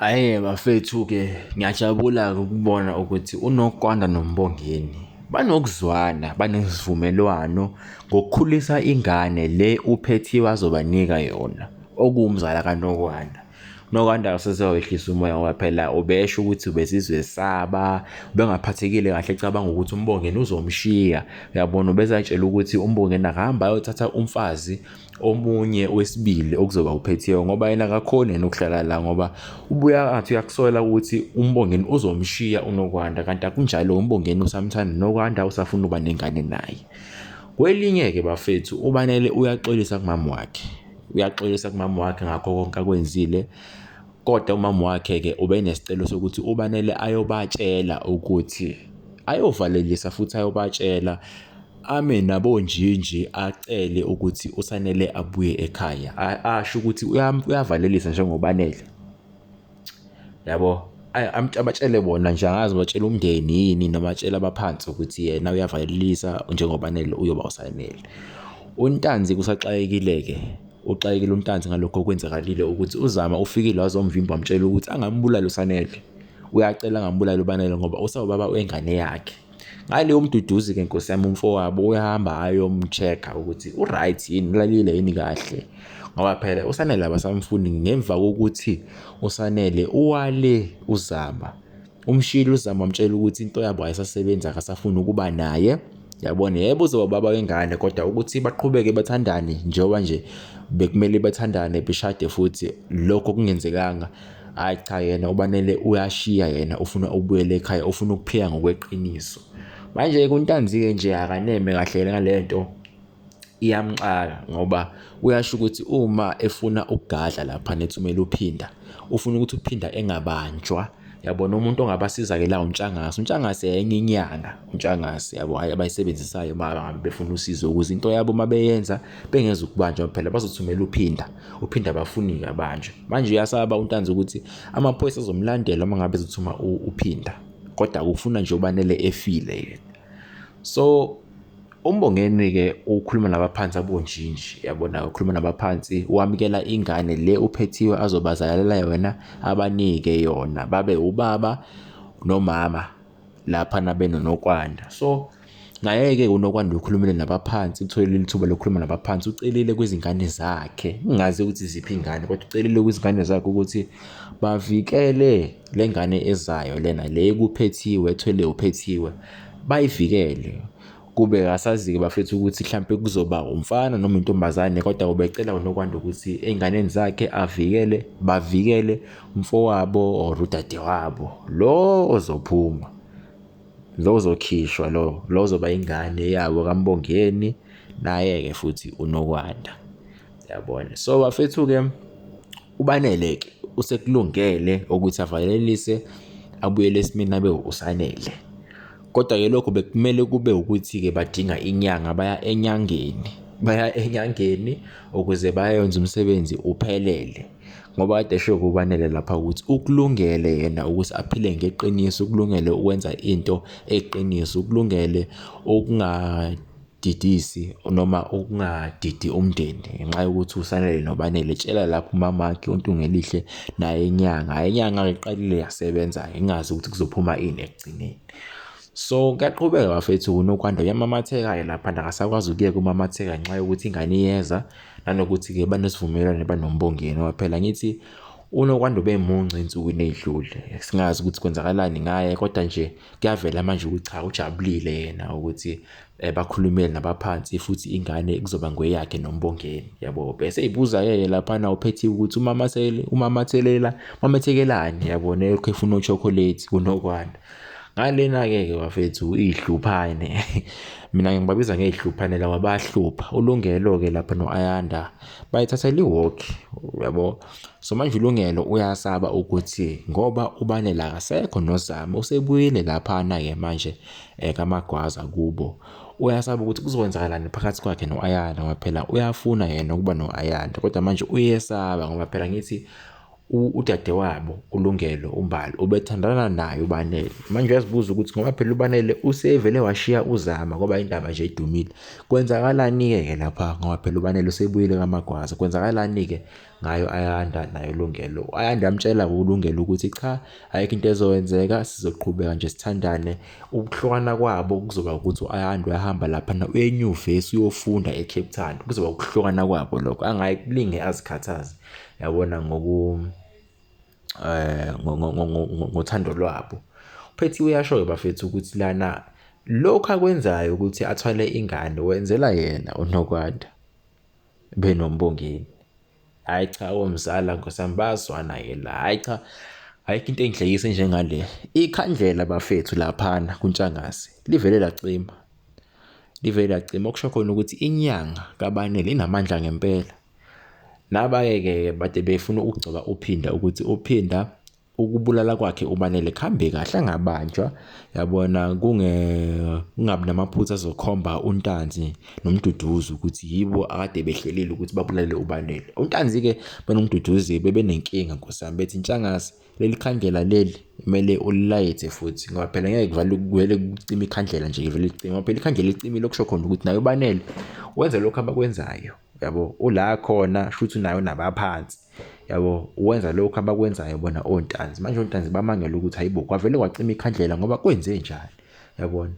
Hhayi-ke bafethu-ke ngiyajabula ukubona ukuthi uNokwanda noMbongeni banokuzwana, banesivumelwano ngokukhulisa ingane le uPhethiya azobanika yona, okuwumzala kaNokwanda. UNokwanda awuseze wawehlisa umoya ngoba phela ubesho ukuthi ubesizesaba, ubengaphathekile kahle ecabanga ukuthi uMbongeni uzomshiya, uyabona? Ubezitshela ukuthi uMbongeni akahambe ayothatha umfazi. omunye wesibili okuzoba uphethiyo ngoba yena akakhoni yena ukuhlala la ngoba ubuya athi uyakusola ukuthi umbongeni uzomshiya unokwanda kanti akunjalo umbongeni usamthanda nokwanda usafuna uba nengane naye kwelinye-ke bafethu ubanele uyaxolisa kumama wakhe uyaxolisa kumama wakhe ngakho konke akwenzile kodwa umama wakhe-ke ubenesicelo sokuthi ubanele ayobatshela ukuthi ayovalelisa futhi ayobatshela ame nabonjinji acele ukuthi uSanele abuye ekhaya asho ukuthi uyavalelisa njengoba anele yabo abatshele bona nje angazi batshela umndeni yini noma atshela abaphansi ukuthi yena uyavalelisa njengoba anele uyoba uSanele uNtanzi kusaxakekile-ke uxakekile uNtanzi ngalokho okwenzakalile ukuthi uZama ufikile wazomvimba wamtshela ukuthi angambulali uSanele uyacela angambulali uBanele ngoba usawubaba wengane yakhe ngaleyo mduduzi ke nkosi yami umfowabo uyahamba ayomcheck-a ukuthi u-right yini ulalile yini kahle ngoba phela usanele abasamfuni ngemva kokuthi usanele uwale uzama umshilo uzama wamtshela ukuthi into yabo ayisasebenzi akasafuni ukuba naye yabona yebo uzoba baba wengane kodwa ukuthi baqhubeke bathandane njengoba nje bekumele bathandane beshade futhi lokho kungenzekanga Hhayi cha yena ubanele uyashiya yena ufuna ukubuyela ekhaya ufuna ukuphila ngokweqiniso. Manje-ke kuntanzi-ke nje akaneme kahle yena ngale nto iyamxaka ngoba uyasho ukuthi uma efuna ukugadla lapha nethumela uphinda ufuna ukuthi uphinda engabanjwa yabona umuntu ongabasiza-ke la untshangase untshangase enye inyanga untshangase yabo hhayi abayisebenzisayo uma ngabe befuna usizo ukuze into yabo uma beyenza bengezukubanjwa phela bazothumela uphinda uphinde abafunike abanje manje uyasaba untanzi ukuthi amaphoyisa azomlandela uma ngabe ezothuma uphinda kodwa kufuna nje ubanele efile yena so umbongeni-ke ukhuluma nabaphansi abonjinji yabona ukhuluma nabaphansi wamukela ingane le uphethiwe azobazalalela yona abanike yona babe ubaba nomama lapha nabenonokwanda so naye-ke unokwanda ukhulumile nabaphansi utholile ithuba lokukhuluma nabaphansi ucelile kwizingane zakhe ngingazi ukuthi ziphi ingane kodwa ucelile kwizingane zakhe ukuthi bavikele le ngane ezayo lena le kuphethiwe ethwele uphethiwe bayivikele kube kasazi-ke bafethu ukuthi mhlampe kuzoba umfana noma intombazane kodwa ubecela unokwanda ukuthi ey'nganeni zakhe avikele bavikele umfowabo or udadewabo lo ozophuma lo ozokhishwa lo lo ozoba ingane yabo kambongeni naye-ke futhi unokwanda yabona so bafethu-ke ubanele-ke usekulungele ukuthi avalelise abuyele esimeni abe usanele Kodwa-ke lokho bekumele kube ukuthi-ke badinga inyanga, baya enyangeni. Baya enyangeni ukuze bayonza umsebenzi uphelele. Ngoba kade esho kubanele lapha ukuthi ukulungele yena ukuthi aphile ngeqiniso, ukulungele ukwenza into eyiqiniso, ukulungele ukunga Didisi noma ukungadidi umndeni ngenxa yokuthi usanele nobanele tshela lapho umamakhe untungelihle naye inyanga hayi inyanga iqalile yasebenza ingazi ukuthi kuzophuma ini ekugcineni so kuyaqhubeka bafethu unokwanda uyamamatheka-ke lapha nakasakwazi ukuyeka umamatheka ngenxa yokuthi ingane iyeza nanokuthi-ke banesivumelwane banombongeni ngoba phela ngithi unokwanda ube munci ensukwini ey'dlule singazi ukuthi kwenzakalani ngaye kodwa nje kuyavela manje ukuthi cha ujabulile yena ukuthi eh, bakhulumele nabaphansi futhi ingane kuzoba ngweyakhe nombongeni yabo bese ibuza yeye laphana uphethiwe ukuthi umamathele umamathelela mamethekelani yabo nelokhu efuna uchocolate unokwanda ngalena-ke ke bafethu iy'hluphane mina ngibabiza ngey'hluphane lawa bahlupha ulungelo-ke lapha no-ayanda bayithathela iwoki yabo So manje uLungelo uyasaba ukuthi ngoba uBanele akasekho noZama usebuyile laphana-ke manje um kaMagwaza kubo. Uyasaba ukuthi kuzokwenzakalani phakathi kwakhe no-Ayanda ngoba phela uyafuna yena ukuba no-Ayanda kodwa manje uyesaba ngoba phela ngithi udadewabo uLungelo uMbali ubethandana naye uBanele. Manje uyazibuza ukuthi ngoba phela uBanele usevele washiya uZama ngoba indaba nje idumile. Kwenzakalani-ke-ke lapha ngoba phela uBanele usebuyile kaMagwaza, kwenzakalani-ke? ngayo uAyanda naye uLungelo. UAyanda amtshela uLungelo ukuthi cha ayikho into ezokwenzeka sizoqhubeka nje sithandane. Ukuhlukana kwabo kuzoba ukuthi uAyanda uyahamba laphana uye enyuvesi uyofunda eCape Town. Kuzoba ukuhlukana kwabo lokho angayi kulinge azikhathaze yabona ngoku eh ngothando lwabo. Uphethiwe uyasho-ke bafethu ukuthi lana lokhu akwenzayo ukuthi athwale ingane wenzela yena uNokwanda. benombongeni hayi cha omzala nkosami bayazwana ke la hayi cha ayikho into engihlekise njengale ikhandlela bafethu laphana kuntshangase livele lacima livele lacima okusho khona ukuthi inyanga kabanele inamandla ngempela nabake-ke bade befuna ukugcoba uphinda ukuthi uphinda ukubulala kwakhe ubanele kuhambe kahle angabanjwa yabona kungabi namaphutha azokhomba untanzi nomduduzi ukuthi yibo akade behlelile ukuthi babulale ubanele untanzi-ke benomduduzi bebenenkinga nkosami bethi ntshangase leli khandlela leli kumele ulilayithe futhi ngoba phela ngeke kuvale kuvele kucima ikhandlela nje kuvele licima ngoba phela ikhandlela licimile okusho khona ukuthi nayo ubanele wenze lokhu abakwenzayo yabo ula khona shuthi nayo nabaphansi yabo wenza lokho abakwenzayo bona ontanzi manje ontanzi bamangela ukuthi hayibo kwavele kwacima ikhandlela ngoba kwenze njani yabona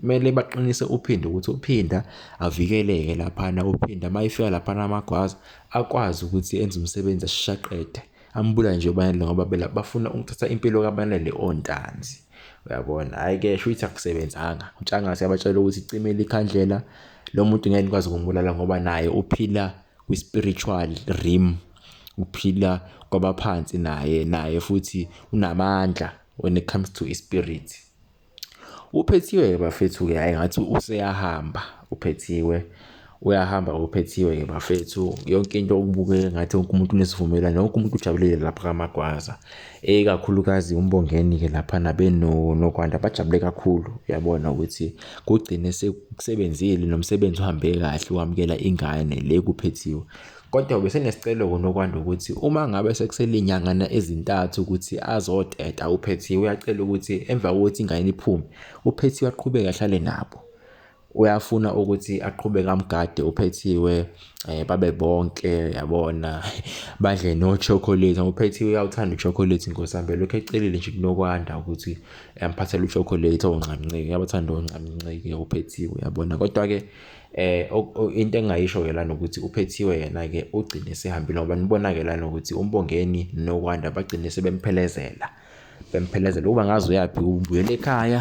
kumele baqinise uphinde ukuthi uphinda avikeleke laphana uphinda uma ifika laphana amagwaza akwazi ukuthi enze umsebenzi ashaqede ambula nje ubanele ngoba bela bafuna ukuthatha impilo kabanele ontanzi uyabona hhayi ke sho ukuthi akusebenzanga utshangase yabatshela ukuthi cimile ikhandlela lo muntu ngeke nikwazi ukumbulala ngoba naye uphila kwi-spiritual realm uphila kwabaphansi naye naye futhi unamandla when it comes to ispirit uphethiwe ke bafethu ke hayi ngathi useyahamba uphethiwe uyahamba uphethiwe ke bafethu yonke into okubukeka ngathi wonke umuntu unesivumelwano wonke umuntu ujabulile lapha kamagwaza ikakhulukazi umbongeni-ke laphana benokwanda bajabule kakhulu uyabona ukuthi kugcine sekusebenzile nomsebenzi uhambe kahle wamukela ingane le kuphethiwe kodwa besenesicelo konokwanda ukuthi uma ngabe sekuselinyangana ezintathu ukuthi azoteta uphethiwe uyacela ukuthi emva kokuthi ingane iphume uphethiwe aqhubeke ahlale nabo uyafuna ukuthi aqhubeke amgade uphethiwe eh babe bonke yabona badle no chocolate uphethiwe uyawuthanda uchocolate nkosambhe lokho ecelile nje kunokwanda ukuthi amphathele uchocolate onqamnceke yabathanda onqamnceke uphethiwe yabona kodwa ke eh into engayisho ke lana ukuthi uphethiwe yena ke ugcine sehambile ngoba nibona ke lana ukuthi umbongeni nokwanda bagcine sebemphelezela bemphelezela ukuba ngazi uyaphi ubuyela ekhaya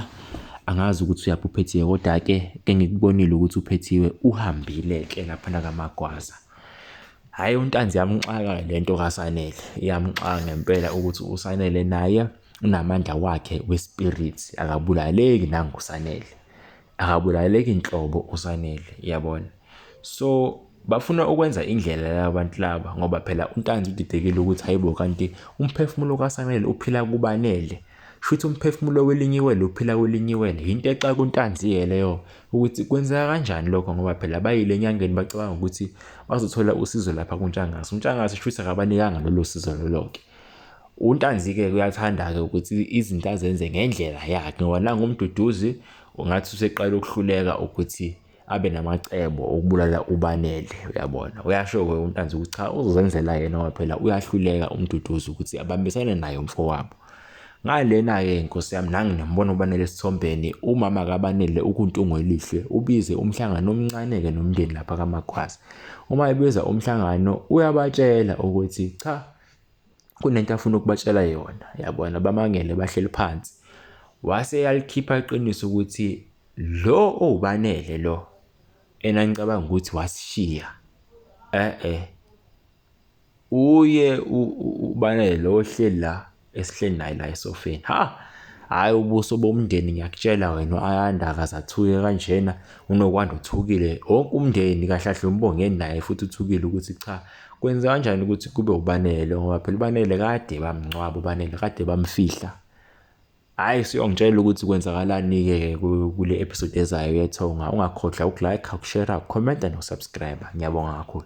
angazi ukuthi uyaphi uphethiwe kodwa-ke engikubonile ukuthi uphethiwe uhambile-ke laphana kamagwaza hhayi untanzi yamxaka le nto kasanele iyamxaka ngempela ukuthi usanele naye unamandla wakhe wespirits akabulaleki nangusanele akabulaleki nhlobo usanele yabona so bafuna ukwenza indlela labantu laba ngoba phela untanzi udidekile ukuthi hayibo kanti umphefumulo kasanele uphila kubanele shuthi umphefumulo welinyiwele uphila kwelinyiwele yinto exa kuntanzi-ke leyo ukuthi kwenzeka kanjani lokho ngoba phela bayile enyangeni bacabanga ukuthi bazothola usizo lapha kuntshangase untshangase shuthi akabanikanga lolo sizo lolo-ke UNtanzi-ke kuyathanda-ke ukuthi izinto azenze ngendlela yakhe ngoba nangumduduzi ungathi useqala ukuhluleka ukuthi abe namacebo okubulala ubanele uyabona uyasho-ke uNtanzi ukuthi cha uzenzela yena ngoba phela uyahluleka umduduzi ukuthi abambisane naye umfowabo ngalena-ke nkosi yami nangi nambona ubanele esithombeni umama kabanele ukuntungo elihle ubize umhlangano omncane-ke nomndeni lapha kamakhwazi uma ebiza umhlangano uyabatshela ukuthi cha kunento afuna ukubatshela yona yabona bamangele bahleli phansi wase yalikhipha iqiniso ukuthi lo owubanele lo enanicabanga ukuthi wasishiya eh eh uye ubanele lo ohleli la esihleli naye la esofeni ha hayi ubuso bomndeni ngiyakutshela wena u-ayanda akazathuke kanjena unokwanda uthukile wonke umndeni kahlahle umbongeni naye futhi uthukile ukuthi cha Kwenza kanjani ukuthi kube ubanele ngoba phela ubanele kade bamngcwaba ubanele kade bamfihla. Hayi siyongitshela ukuthi kwenzakalani-ke kule episode ezayo yethonga. Ungakhohlwa ukulike, ukushare, ukhomenta nokusubscribe. Ngiyabonga kakhulu.